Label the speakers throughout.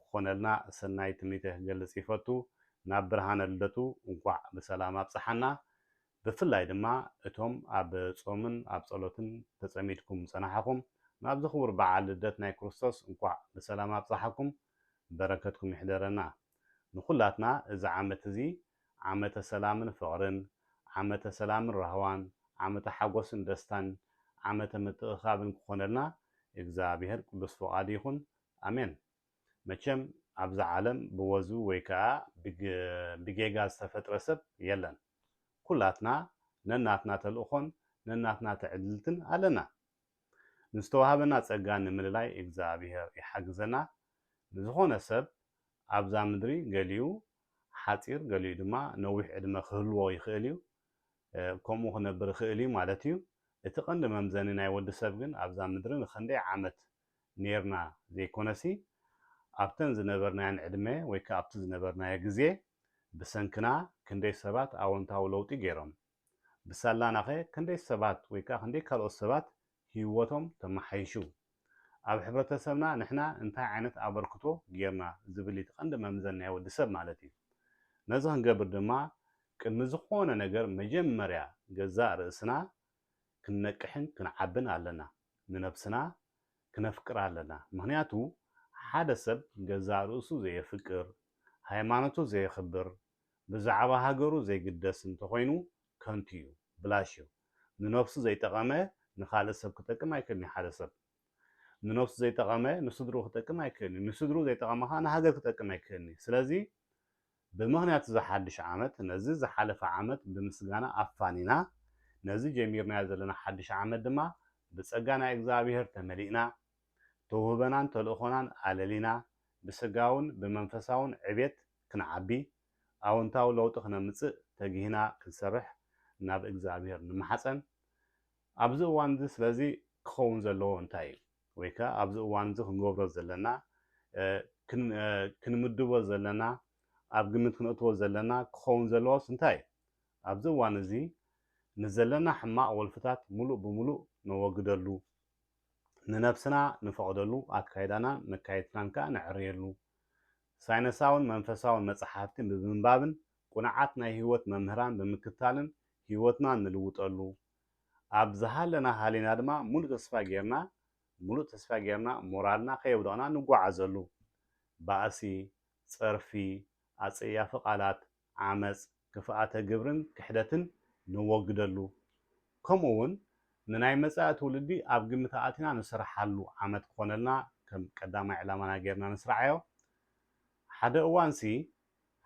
Speaker 1: ክኾነልና ሰናይ ትምኒተይ ክገልጽ ይፈቱ ናብ ብርሃነ ልደቱ እንኳዕ ብሰላም ኣብጽሓና ብፍላይ ድማ እቶም ኣብ ጾምን ኣብ ጸሎትን ተጸሚድኩም ዝጸናሕኹም ናብዚ ክቡር በዓል ልደት ናይ ክርስቶስ እንኳዕ ብሰላም ኣብጽሓኩም በረከትኩም ይሕደረና ንኹላትና እዚ ዓመት እዚ ዓመተ ሰላምን ፍቅርን ዓመተ ሰላምን ራህዋን ዓመተ ሓጎስን ደስታን ዓመተ ምትእኽኻብን ክኾነልና እግዚኣብሔር ቅዱስ ፍቃዱ ይኹን ኣሜን መቸም ኣብዛ ዓለም ብወዙ ወይ ከኣ ብጌጋ ዝተፈጥረ ሰብ የለን ኩላትና ነናትና ተልእኾን ነናትና ትዕድልትን ኣለና ንዝተዋሃበና ጸጋ ንምልላይ እግዝኣብሄር ይሓግዘና ንዝኾነ ሰብ ኣብዛ ምድሪ ገሊኡ ሓጺር ገሊኡ ድማ ነዊሕ ዕድመ ክህልዎ ይኽእል እዩ ከምኡ ክነብር ይኽእል እዩ ማለት እዩ እቲ ቀንዲ መምዘኒ ናይ ወዲ ሰብ ግን ኣብዛ ምድሪ ንኽንደይ ዓመት ኔርና ዘይኮነሲ ኣብተን ዝነበርናየን ዕድመ ወይ ከኣ ኣብቲ ዝነበርናዮ ግዜ ብሰንክና ክንደይ ሰባት ኣወንታዊ ለውጢ ጌሮም? ብሳላናኸ ክንደይ ሰባት ወይ ከኣ ክንደይ ካልኦት ሰባት ህይወቶም ተመሓይሹ? ኣብ ሕብረተሰብና ንሕና እንታይ ዓይነት ኣበርክቶ ጌርና ዝብል እቲ ቀንዲ መምዘኒ ናይ ወዲ ሰብ ማለት እዩ። ነዚ ክንገብር ድማ ቅድሚ ዝኾነ ነገር መጀመርያ ገዛእ ርእስና ክንነቅሕን ክንዓብን ኣለና ንነብስና ክነፍቅር ኣለና ምክንያቱ ሓደ ሰብ ገዛእ ርእሱ ዘየፍቅር ሃይማኖቱ ዘየክብር ብዛዕባ ሃገሩ ዘይግደስ እንተኮይኑ ከንቱ እዩ ብላሽ እዩ ንነብሱ ዘይጠቀመ ንካልእ ሰብ ክጠቅም ኣይክእልን እዩ ሓደ ሰብ ንነብሱ ዘይጠቀመ ንስድርኡ ክጠቅም ኣይክእልን እዩ ንስድርኡ ዘይጠቀመ ከኣ ንሃገር ክጠቅም ኣይክእልን እዩ ስለዚ ብምኽንያት እዚ ሓድሽ ዓመት ነዚ ዝሓለፈ ዓመት ብምስጋና ኣፋኒና ነዚ ጀሚርናዮ ዘለና ሓድሽ ዓመት ድማ ብጸጋ ናይ እግዝኣብሄር ተመሊእና ተውህበናን ተልእኾናን ኣለሊና ብስጋውን ብመንፈሳውን ዕቤት ክንዓቢ ኣወንታዊ ለውጢ ክነምጽእ ተጊህና ክንሰርሕ ናብ እግዝኣብሄር ንማሓጸን ኣብዚ እዋን እዚ ስለዚ ክኸውን ዘለዎ እንታይ እዩ? ወይ ከኣ ኣብዚ እዋን እዚ ክንገብሮ ዘለና፣ ክንምድቦ ዘለና፣ ኣብ ግምት ክነእትዎ ዘለና፣ ክኸውን ዘለዎስ እንታይ እዩ? ኣብዚ እዋን እዚ ንዘለና ሕማቕ ወልፍታት ምሉእ ብምሉእ ነወግደሉ፣ ንነብስና ንፈቕደሉ፣ ኣካይዳናን መካይድትናን ከኣ ነዐርየሉ፣ ሳይነሳውን መንፈሳውን መጽሓፍቲ ብምንባብን ቅኑዓት ናይ ህይወት መምህራን ብምክታልን ህይወትና ንልውጠሉ፣ ኣብ ዝሃለና ሃሊና ድማ ሙሉእ ተስፋ ጌርና ሙሉእ ተስፋ ጌርና ሞራልና ከየውደቕና ንጓዓዘሉ። ባእሲ፣ ጸርፊ፣ ኣጸያፊ ቃላት፣ ዓመጽ፣ ክፍኣተ ግብርን ክሕደትን ነወግደሉ። ከምኡ ውን ንናይ መጻኢ ትውልዲ ኣብ ግምት ኣእቲና ንስርሓሉ ዓመት ክኾነልና ከም ቀዳማይ ዕላማና ጌርና ንስርዓዮ። ሓደ እዋንሲ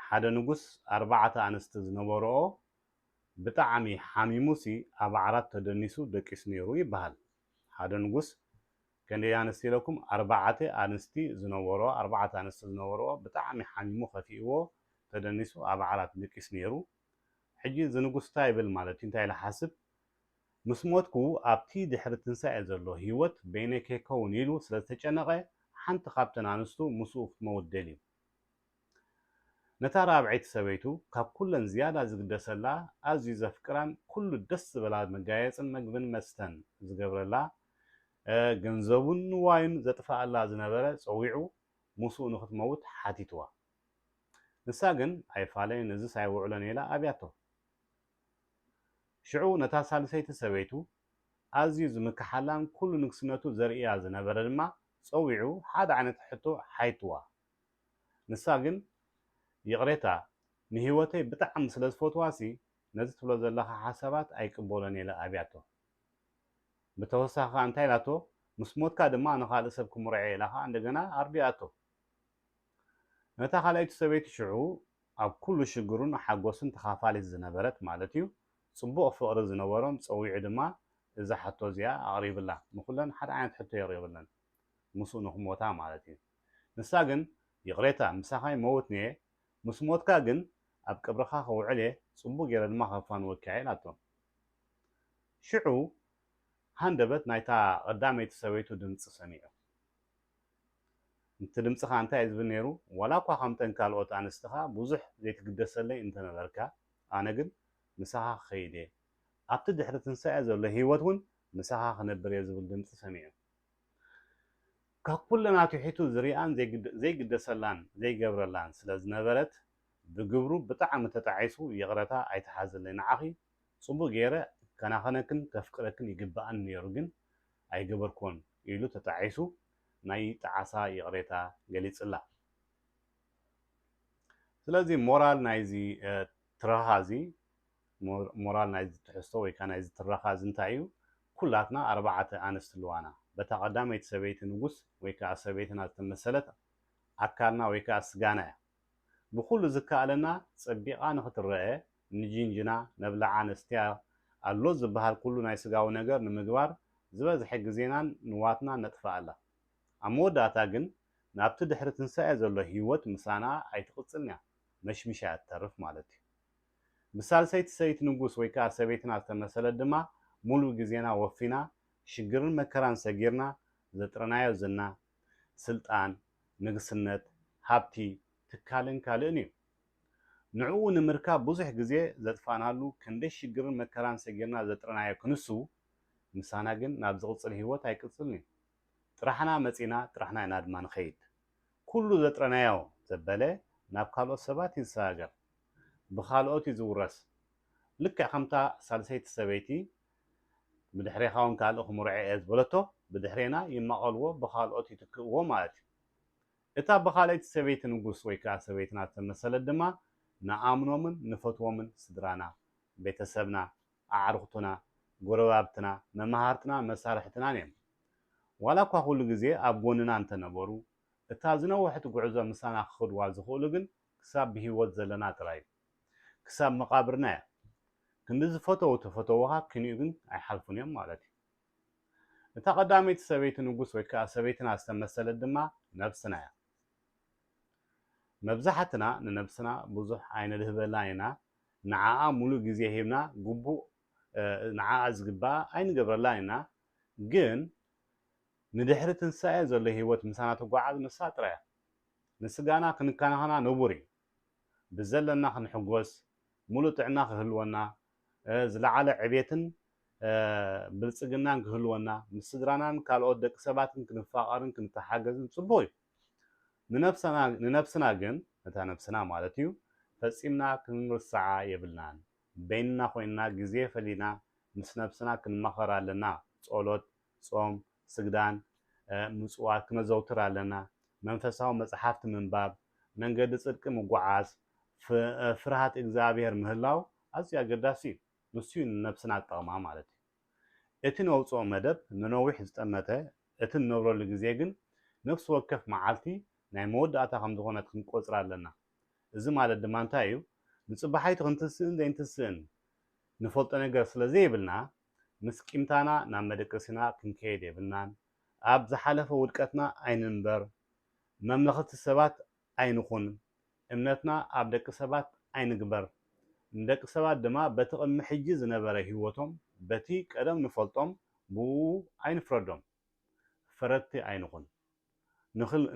Speaker 1: ሓደ ንጉስ ኣርባዕተ ኣንስቲ ዝነበርኦ ብጣዕሚ ሓሚሙሲ ኣብ ዓራት ተደኒሱ ደቂሱ ነይሩ ይበሃል። ሓደ ንጉስ ከንደይ ኣንስቲ ኢለኩም ኣርባዕተ ኣንስቲ ዝነበርኦ ኣርባዕተ ኣንስቲ ዝነበርኦ ብጣዕሚ ሓሚሙ ከፊእዎ ተደኒሱ ኣብ ዓራት ደቂሱ ነይሩ ሕጂ እዚ ንጉስ እንታይ ይብል ማለት እዩ እንታይ ኢለ ሓስብ ምስ ሞትኩ ኣብቲ ድሕሪ ትንሳኤ ዘሎ ህይወት በይነይ ከይከውን ኢሉ ስለ ዝተጨነቐ ሓንቲ ካብተን ኣንስቱ ምስኡ ክትመውት ደልዩ ነታ ራብዐይቲ ሰበይቱ ካብ ኩለን ዝያዳ ዝግደሰላ፣ ኣዝዩ ዘፍቅራን ኩሉ ደስ ዝበላ መጋየጽን መግብን መስተን ዝገብረላ፣ ገንዘቡን ንዋዩን ዘጥፍኣላ ዝነበረ ጸዊዑ ምስኡ ንኽትመውት ሓቲትዋ። ንሳ ግን ኣይፋለይን እዝስ ኣይውዕሎን ኢላ ኣብያቶ። ሽዑ ነታ ሳልሰይቲ ሰበይቱ ኣዝዩ ዝምክሓላን ኩሉ ንግስነቱ ዘርእያ ዝነበረ ድማ ጸዊዑ ሓደ ዓይነት ሕቶ ሓይትዋ። ንሳ ግን ይቕሬታ ንህይወተይ ብጣዕሚ ስለ ዝፈትዋሲ ነዚ ትብሎ ዘለኻ ሓሳባት ኣይቅበሎን እየ ኢላ ኣብያቶ። ብተወሳኺ ከኣ እንታይ ኢላቶ ምስ ሞትካ ድማ ንኻልእ ሰብ ክምርዖ እየ ኢላ ከኣ እንደገና ኣርዲኣቶ። ነታ ካልኣይቲ ሰበይቲ ሽዑ ኣብ ኩሉ ሽግሩን ሓጎሱን ተኻፋሊት ዝነበረት ማለት እዩ ጽቡቕ ፍቕሪ ዝነበሮም ጸዊዑ ድማ እዛ ሕቶ እዚኣ ኣቕሪብላ። ንኹለን ሓደ ዓይነት ሕቶ የቕሪብለን። ምስኡ ንክሞታ ማለት እዩ ንሳ ግን ይቅሬታ ምሳካ ይመውትንየ ምስ ሞትካ ግን ኣብ ቅብርካ ክውዕል እየ ጽቡቅ ጌረ ድማ ከፋንወኪ እየ ኢላቶ ሽዑ ሃንደበት ናይታ ቀዳመይቲ ሰበይቱ ድምጺ ሰሚዑ እቲ ድምጺ ከኣ እንታይ እዩ ዝብል ኔሩ ዋላ እኳ ከምተን ካልኦት ኣንስትኻ ብዙሕ ዘይትግደሰለይ እንተነበርካ ኣነ ግን ምሳካ ክከይድ እየ ኣብቲ ድሕሪ ትንሳኤ ዘሎ ሂወት ውን ምሳካ ክነብር እየ ዝብል ድምጺ ሰሚዑ ካብ ኩለን ኣትሒቱ ዝሪኣን ዘይግደሰላን ዘይገብረላን ስለ ዝነበረት ብግብሩ ብጣዕሚ ተጣዒሱ ይቕረታ ኣይትሓዝለይ ንዓኺ ፅቡቕ ገይረ ክከናኸነክን ከፍቅረክን ይግበኣኒ ነይሩ ግን ኣይገበርክዎን ኢሉ ተጣዒሱ ናይ ጣዕሳ ይቕሬታ ገሊፅላ ስለዚ ሞራል ናይዚ ትረኻ እዚ ሞራል ናይዚ ትሕዝቶ ወይ ከኣ ናይዚ ትረኻ እዚ እንታይ እዩ? ኩላትና ኣርባዓተ ኣንስቲ ኣለዋና። በታ ቀዳመይቲ ሰበይቲ ንጉስ ወይ ከኣ ሰበይትና ዝተመሰለት ኣካልና ወይ ከኣ ስጋና እያ። ብኹሉ ዝከኣለና ጸቢቓ ንኽትረኣ ንጂንጅና፣ ነብልዓ፣ ነስትያ፣ ኣሎ ዝበሃል ኩሉ ናይ ስጋዊ ነገር ንምግባር ዝበዝሐ ግዜናን ንዋትናን ነጥፍኣላ። ኣብ መወዳእታ ግን ናብቲ ድሕሪ ትንሳኤ ዘሎ ህይወት ምሳና ኣይትቕጽልን እያ፣ መሽሚሻ እያ ትተርፍ ማለት እዩ። ምስ ሳልሰይቲ ሰበይቲ ንጉስ ወይ ከኣ ሰበይትና ዝተመሰለት ድማ ሙሉእ ግዜና ወፊና ሽግርን መከራን ሰጊርና ዘጥረናዮ ዝና፣ ስልጣን፣ ንግስነት፣ ሃብቲ፣ ትካልን ካልእን እዩ። ንዕኡ ንምርካብ ብዙሕ ግዜ ዘጥፋእናሉ ክንደይ ሽግርን መከራን ሰጊርና ዘጥረናዮ ክንሱ ምሳና ግን ናብ ዝቕጽል ህይወት ኣይቅጽልን እዩ። ጥራሕና መጺእና ጥራሕና ኢና ድማ ንኸይድ። ኩሉ ዘጥረናዮ ዘበለ ናብ ካልኦት ሰባት እዩ ዝሰጋገር። ብኻልኦት እዩ ዝውረስ። ልክዕ ከምታ ሳልሰይቲ ሰበይቲ ብድሕሬኻ እውን ካልእ ክምርዖ እየ ዝበለቶ፣ ብድሕሬና ይማቐልዎ ብኻልኦት ይትክእዎ ማለት እዩ። እታ ብኻልኣይቲ ሰበይቲ ንጉስ ወይ ከኣ ሰበይትና ዝተመሰለት ድማ ንኣምኖምን ንፈትዎምን ስድራና፣ ቤተሰብና፣ ኣዕሩኽትና፣ ጎረባብትና፣ መማህርትና፣ መሳርሕትናን እዮም። ዋላ እኳ ኩሉ ግዜ ኣብ ጎንና እንተነበሩ፣ እታ ዝነውሐት ጉዕዞ ምሳና ክኸዱዋ ዝኽእሉ ግን ክሳብ ብሂወት ዘለና ጥራይ እዩ። ክሳብ መቓብርና እያ። ክንዲ ዝፈተዉ ተፈተዉኻ ኪንኡ ግን ኣይሓልፉን እዮም ማለት እዩ። እታ ቀዳመይቲ ሰበይቲ ንጉስ ወይ ከኣ ሰበይትና ዝተመሰለት ድማ ነብስና እያ። መብዛሕትና ንነብስና ብዙሕ ኣይነድህበላን ኢና፣ ንዓኣ ሙሉእ ግዜ ሂብና ግቡእ ንዓኣ ዝግብኣ ኣይንገብረላን ኢና ግን ንድሕሪ ትንሳኤ ዘሎ ሂወት ምሳና ትጓዓዝ ንሳ ጥራይ እያ ንስጋና ክንከናኸና ንቡር እዩ ብዘለና ክንሕጎስ ሙሉእ ጥዕና ክህልወና ዝለዓለ ዕቤትን ብልጽግናን ክህልወና ምስ ስድራናን ካልኦት ደቂ ሰባትን ክንፋቐርን ክንተሓገዝን ጽቡቕ እዩ ንነብስና ግን፣ ነታ ነብስና ማለት እዩ፣ ፈጺምና ክንርስዓ የብልናን። በይንና ኮይንና ግዜ ፈሊና ምስ ነብስና ክንማኸር ኣለና፣ ጸሎት፣ ጾም፣ ስግዳን፣ ምጽዋት ክነዘውትር ኣለና፣ መንፈሳዊ መጽሓፍቲ ምንባብ፣ መንገዲ ጽድቂ ምጉዓዝ፣ ፍርሃት እግዝኣብሄር ምህላው ኣዝዩ ኣገዳሲ እዩ። ንሱ እዩ ንነብስና ዝጠቕማ ማለት እዩ። እቲ ነውጽኦ መደብ ንነዊሕ ዝጠመተ፣ እቲ ንነብረሉ ግዜ ግን ነፍሲ ወከፍ መዓልቲ ናይ መወዳእታ ከም ዝኾነት ክንቆጽራ ኣለና። እዚ ማለት ድማ እንታይ እዩ? ንጽባሓይቲ ክንትስእን ዘይንትስእን ንፈልጦ ነገር ስለ ዘይብልና፣ ምስ ቂምታና ናብ መደቀሲና ክንከይድ የብልናን። ኣብ ዝሓለፈ ውድቀትና ኣይንንበር። መምለኽቲ ሰባት ኣይንኹን፣ እምነትና ኣብ ደቂ ሰባት ኣይንግበር፣ ንደቂ ሰባት ድማ በቲ ቅድሚ ሕጂ ዝነበረ ህይወቶም፣ በቲ ቀደም ንፈልጦም ብእኡ ኣይንፍረዶም፣ ፈረድቲ ኣይንኹን።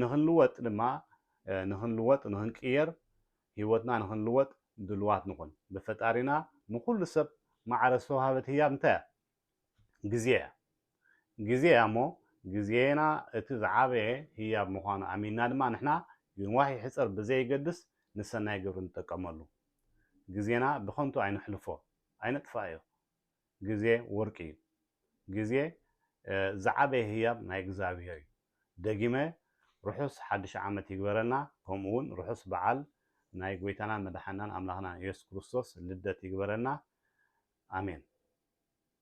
Speaker 1: ንኽንልወጥ ድማ፣ ንኽንልወጥ፣ ንኽንቅየር፣ ህይወትና ንኽንልወጥ ድሉዋት ንኹን። ብፈጣሪና ንኹሉ ሰብ ማዕረ ዝተዋህበት ህያብ እንታይ እያ? ግዜ እያ። ግዜ እያ እሞ ግዜና እቲ ዝዓበየ ህያብ ምዃኑ ኣሚንና ድማ ንሕና ይንዋሕ ይሕጸር ብዘይገድስ ንሰናይ ግብሪ ንጠቀመሉ። ግዜና ብኸንቱ ኣይነሕልፎ፣ ኣይነጥፍኣዮ። ግዜ ወርቂ እዩ። ግዜ ዝዓበየ ህያብ ናይ እግዝኣብሄር እዩ። ደጊመ ርሑስ ሓድሽ ዓመት ይግበረልና ከምኡ ውን ርሑስ በዓል ናይ ጎይታናን መድሓኒናን ኣምላኽናን ኢየሱስ ክርስቶስ ልደት ይግበረልና ኣሜን።